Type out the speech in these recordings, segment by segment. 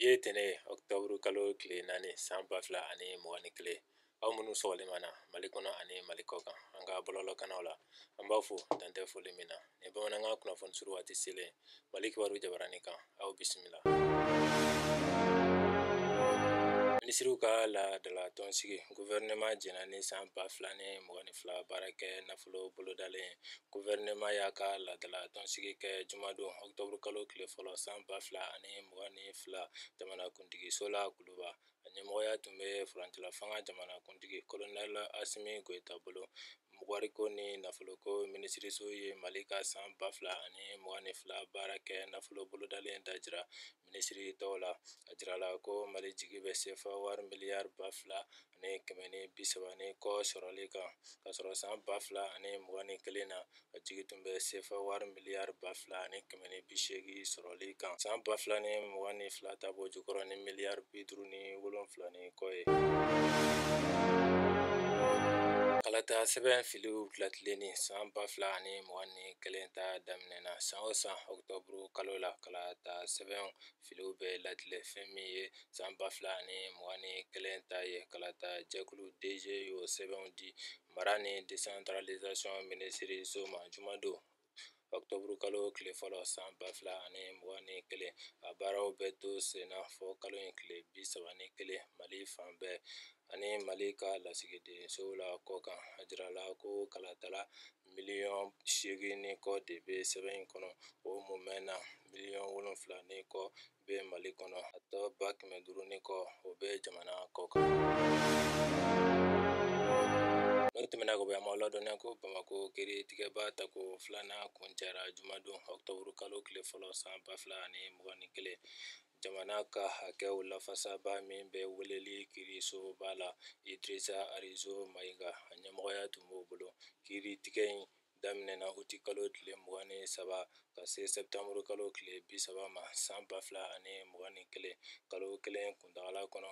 ye tɛnɛ ɔkutɔburu kalo tile naani san ba fila ani mugan ni kelen aw minnu sɔgɔlen mana mali kɔnɔ ani mali kɔ kan an ka bɔlɔlɔkanaw la an b'a fo dan tɛ foli min na ni bamanankan kunnafoni suru waati selen mali kibaru jabaranin kan aw bisimila minisiriw ka laadala tɔnsigi guvɛrɛnɛman jɛna ni san ba fila ni mugan ni fila baarakɛ nafolo bolodalen Guvɛrɛnɛman y'a ka laadala tɔnsigi kɛ jumadon ɔkutɔburu kalo tile fɔlɔ san ba fila ani mugan ni fila jamanakuntigiso la kuluba a ɲɛmɔgɔya tun bɛ furancɛla fanga jamanakuntigi kolonɛli Asimi Goyita bolo wariko ni nafoloko minisiriso ye mali ka san ba fila ani mugan ni fila baarakɛ nafolo bolodalen da jira minisiri tɔw la a jirala ko mali jigi bɛ sefa wari miliyari ba fila ani kɛmɛ ni bi saba ni kɔ sɔrɔli kan ka sɔrɔ san ba fila ani mugan ni kelen na a jigi tun bɛ sefa wari miliyari ba fila ani kɛmɛ ni bi seegin sɔrɔli kan san ba fila ni mugan ni fila ta b'o jukɔrɔ ni miliyari bi duuru ni wolonfila ni kɔ ye kalata sɛbɛn filiw latilenni san ba fila ani mugan ni kelen ta daminɛna san o san ɔkutɔburu kalo la kalata sɛbɛn filiw bɛ latilen fɛn min ye san ba fila ni mugan ni kelen ta ye kalata jɛkulu DGE y'o sɛbɛnw di mara ni desantiralizasiyɔn minisiriso ma jumadon ɔkutɔburu kalo tile fɔlɔ san ba fila ani mugan ni kelen a baaraw bɛ to senna fɔ kalo in tile bi saba ni kelen mali fan bɛɛ ani mali ka lasigidensow la kɔ kan a jirala ko kalatala miliyɔn seegin ni kɔ de bɛ sɛbɛn in kɔnɔ o mumɛ na miliyɔn wolonwula ni kɔ bɛ mali kɔnɔ a tɔ ba kɛmɛ duuru ni kɔ o bɛ jamana kɔ kan n'o tɛmɛna ka bɔ yan an b'aw ladɔnniya ko bamakɔ kiiritigɛba tako filanan kuncɛra jumadon ɔkutɔburu kalo tile fɔlɔ san ba fila ani mugan ni kelen Jamana ka hakɛw lafasabaa min bɛ weleli kiirisoba la Idrissa Arizo Maïga a ɲɛmɔgɔya tun b'o bolo. Kiiri tigɛ in daminɛna uti kalo tile mugan ni saba ka se sɛptanburu kalo tile bi saba ma san ba fila ani mugan ni kelen. Kalo kelen kuntagala kɔnɔ,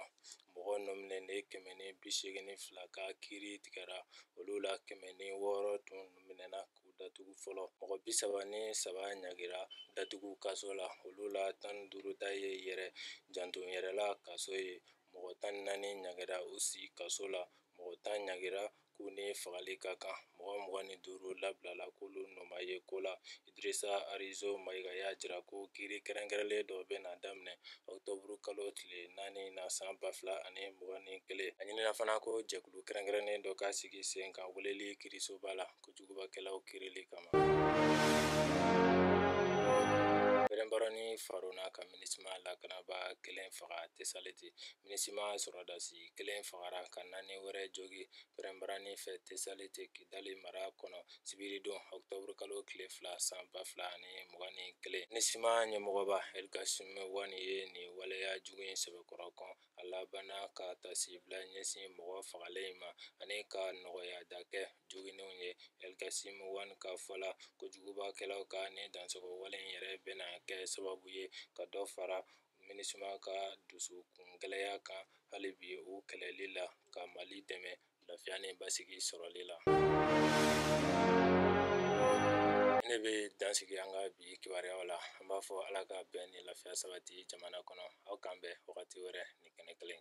mɔgɔ nɔminɛlen kɛmɛ ni bi seegin ni fila ka kiiri tigɛra, olu la kɛmɛ ni wɔɔrɔ tun minɛna. k'u datugu fɔlɔ mɔgɔ bi saba ni saba ɲagira datugu kaso la olu la tan duuru ta ye yɛrɛ janto yɛrɛ la kaso ye mɔgɔ tan ni naani ɲagira u si kaso la mɔgɔ tan ɲagira k'u ni fagali ka kan mɔgɔ mugan ni duuru labilala k'olu nɔ ma ye ko la idrisa arizo mayiga y'a jira ko kiiri kɛrɛnkɛrɛnlen dɔ bɛna daminɛ ɔktɔburu kalo tile naani na san ba fila ani mugan ni kelen a ɲinina fana ko jɛkulu kɛrɛnkɛrɛnnen dɔ ka sigi sen kan weleli kiirisoba la kojugubakɛlaw kiirili kama pɛrɛnbarani farona ka minisima lakanaba kelen faga tesaliti minisima sɔrɔdasi kelen fagara ka naani wɛrɛ jogi pɛrɛnbarani fɛ tesaliti kidali mara kɔnɔ sibiridon ɔkutɔburukalo tile fila san ba fila ani mugan ni kelen minisima ɲɛmɔgɔba elkasimu wani ye nin waleya jugu in sɛbɛkɔrɔ kɔn a labanna ka tasibila ɲɛsin mɔgɔ fagalen in ma ani ka nɔgɔyada kɛ joginnenw ye elkasimu wani ka fɔ la ko jugubakɛlaw ka nin dansogo wale in yɛrɛ bɛna kɛ sababu ye ka dɔ fara minisima ka dusukun gɛlɛya kan hali bi u kɛlɛli la ka mali dɛmɛ lafiya ni basigi sɔrɔli la ne bɛ dan sigi an ka bi kibaruyaw la an b'a fɔ ala ka bɛn ni lafiya sabati jamana kɔnɔ aw k'an bɛn wagati wɛrɛ ni kɛnɛ kelen